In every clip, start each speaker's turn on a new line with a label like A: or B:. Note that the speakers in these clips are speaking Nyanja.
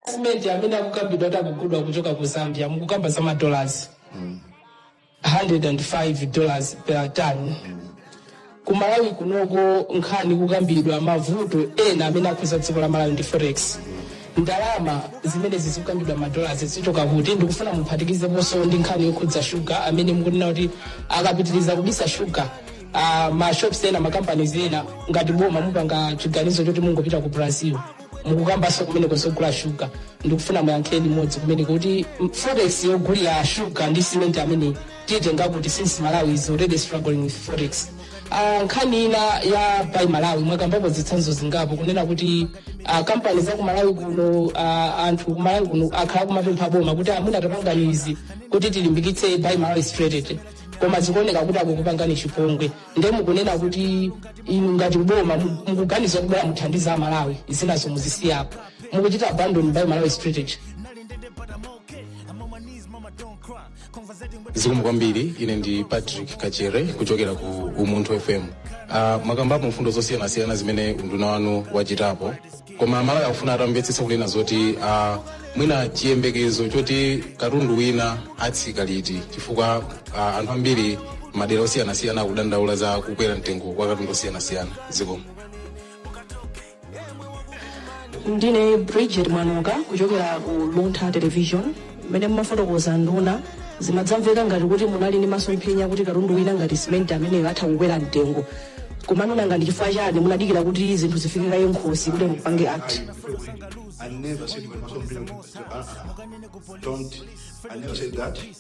A: Simenti amene akukambidwa kuti akugulidwa kuchoka ku Zambia mukukamba za madolars 105 dollars per ton ku Malawi kunoko nkhani kukambidwa mavuto ena amene akhuza dziko la Malawi ndi forex ndalama zimene zikukambidwa madolars zichoka kuti ndikufuna muphatikizeponso ndi nkhani yokhudza shuga amene mukunena kuti akapitiriza kubisa shuga uh, mashops ena makampanies ena ngati boma mupanga chiganizo choti mungopita ku brazil mukukambanso kumene kozogula shuga ndikufuna muyankhe limodzi kumene kuti forex yogulira shuga ndi simenti ameneyi muitenga kuti since malawi is already struggling with forex uh, nkhani ina ya buy malawi mwakambapo zitsanzo zingapo kunena kuti uh, kampani za kumalawi kuno uh, anthu kumalawi kuno akhala kumapempha boma kuti anduna tapangani izi kuti tilimbikitse buy malawi strategy koma zikuoneka kuti akukupangani chipongwe nde mukunena kuti inu ngati boma mu- mukuganiza kubwera muthandiza amalawi zinazo muzisiyapo mukuchita abandon buy malawi strategy
B: zikomo kwambiri ine ndi patrick kachere kuchokera ku umunthu fm uh, mwakambapo mfundo zosiyanasiyana zimene unduna wanu wachitapo koma amalawi akufuna atamvetsetsa kunena zoti uh, mwina chiyembekezo choti katundu wina atsika liti chifukwa uh, anthu ambiri madera osiyanasiyana akudandaula za kukwera mtengo kwa katundu wosiyanasiyana zikomo
C: ndine bridget mwanuka kuchokera ku luntha television mmene mumafotokoza nduna zimadzamveka ngati kuti munali ndi masomphenya kuti katundu wina ngati simenti ameneyo atha kukwera mtengo koma nanga ndi chifukwa chani munadikira kuti zinthu zifike kaye mkhosi kuti mupange act I never
D: said my husband bring it to us. Don't. I never said that.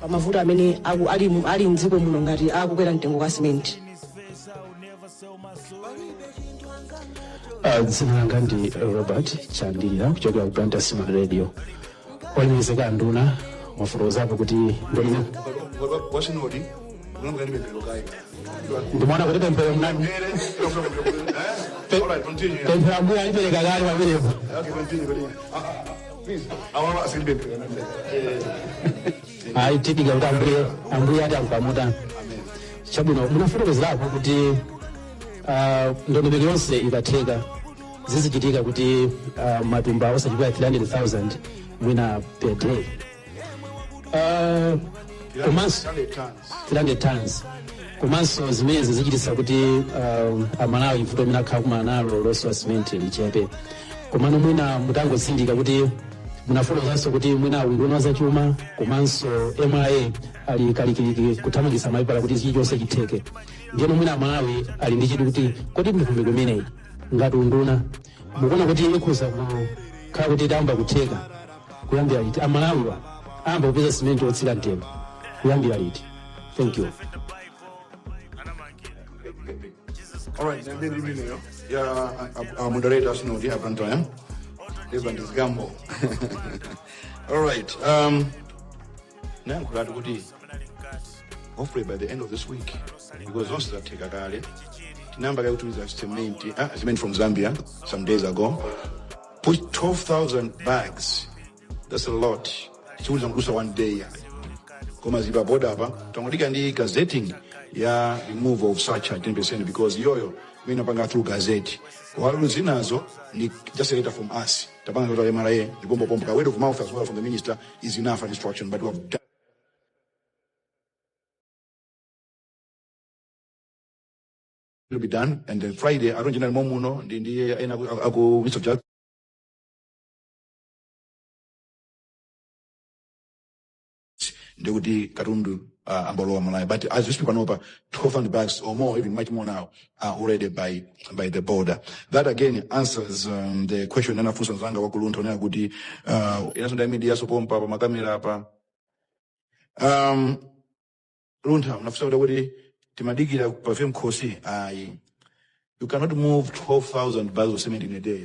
C: pa mavuto amene aku- ali mu- ali mdziko muno ngati akukwera mtengo kwa
E: simenti Ah, dzina langa ndi robert chandira kuchokera ku blantyre synod radio olemekezeka anduna mwafotokozapo kuti ndinu wa synod unamga
D: ni mepelo
E: kai ndimaona kuti pemphero mnani ngere unafuna mepelo eh all right continue pemphero ambuye alipereka kale pamenepo okay continue continue ah ah, ah ayi tidikira kuti ambuye ambuye ati akupamutani chabwino munafotokozerapo kuti ah, ndondomeko yonse ikatheka zizichitika kuti ah, matumba osachepera 300000 mwina per day Ah, komanso 300 tons komanso zimenezi zichititsa kuti um, amalawi vuto limene akhala kumana nalo losowa simenti lichepe komano mwina mutangotsindika kuti munafotokozanso kuti mwina unduna zachuma komanso mra ali kalikiliki kuthamangitsa mapepala kuti chilichonse chitheke ndiyeno mwina amalawi ali ndi chidwi kuti kodi mikumano imeneyi ngati unduna mukuona kuti ikhoza kukhala kuti iyamba kutheka kuyambira liti amalawiwa ayamba kupeza simenti otsika mtengo kuyambira liti thank you
D: Alright, then then we know. Yeah, our- our moderator Synod ya Blantyre. Reverend Zgambo. All right. Um, ndayankhulatu kuti hopefully by the end of this week because zonse zatheka kale tinayamba kaye kutumiza cement ah, cement from zambia some days ago put 12000 bags that's a lot sikuti kudutsa one day yani koma zili pa boda apa tangodikira ndi gazetting ya removal of surcharge 10% because iyoyo imene tinapanga through gazette while zinazo ndi just a letter from us tapanga letter ya mra ndi pompopompo ka word of mouth as well from the minister is enough an instruction, but we have done. It'll be done, and then Friday, I don't general momuno, ndi ndi ena aku- aku Mr. Jack. ndikuti katundu uh, ambalowa malawi but as we speak panopa 1200 bucks or more even much more now are already by, by the border. That again answers um, the question anafunsa nzanga wa ku Luntha wonena kuti uh, enanso ndi a media so pompa pa makamera apa. Um, Luntha unafunsa kuti kuti timadikira pafe nkhosa ayi. You cannot move 12,000 bags of cement in a day.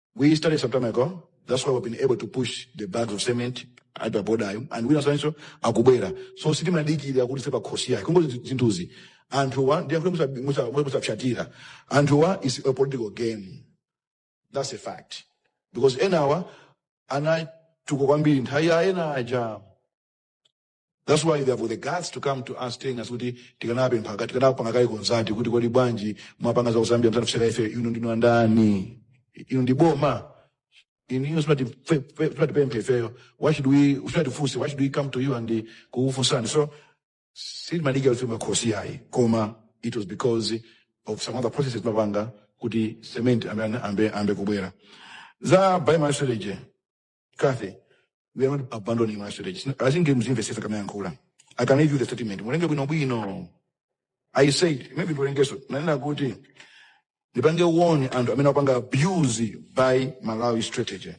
D: We started some time ago. That's why we've been able to push the bags of cement at the border and enanso akubwera. So sitimadikira kuti pafe nkhosa ayi. Kungoti zinthuzi. Anthuwa ndiye kuti musa musa musa fyatira. Anthuwa is a political game. That's a fact. Because enawa anatukuka kwambiri nthawi ya ena aja That's why they have the guts to come to us telling us kuti tikanapempha kaye tikanapanga kaye consult kuti kodi bwanji mwapanga za kuzambia musanatifunse ife inu ndinu ndani inu ndi boma inu inu simuti simutipempha ifeyo why should we simutifunsa why should we come to you and kukufunsani so sitimadikira kuti pafe nkhosa ayi koma it was because of some other processes timapanga kuti cement ambe ambe ambe kubwera that's been our strategy Kathy, we are not abandoning our strategy. I think games investors are coming and I can give you the statement. Mulenge bwino bwino. I said, maybe tulengeso. Nanena kuti, ndipange warn anthu amene apanga abuse by Malawi strategy.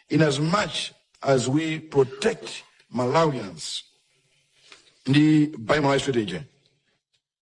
D: In as much as we protect Malawians, ndi by Malawi strategy,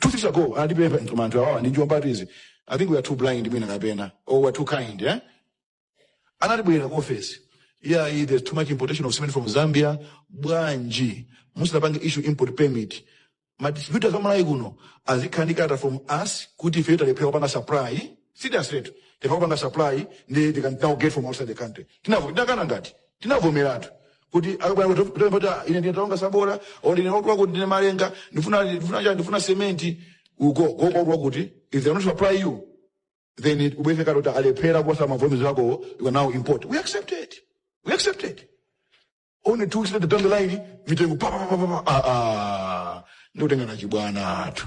D: two weeks ago anatipempha koma anthu awawa ndi atsizinamtole i think we are too blind mwina kapena or we are too kind eh? anatibwerera ku office yeah eh, there's too much importation of cement from zambia bwanji musamapange issue import permit madistributors amalawi kuno azikhala ndi kalata from us kuti ife talephera kupanga supply seriously talephera kupanga supply ndiye they can now get from outside the country tinavo tinakana ngati tinavomeratu kuti akapanga kuti kuti ine ndine Taonga Sabola or ndine watu wakuti ndine malenga ndifuna ndifuna chani ndifuna sementi uko uko watu wakuti if they don't supply you then it- ubweze kati kuti alephera kuposa ma volumes ako you can now import we accept it we accept it only two weeks later down the line mitengo pa pa pa pa pa ah ah ndikutenga na chibwana anthu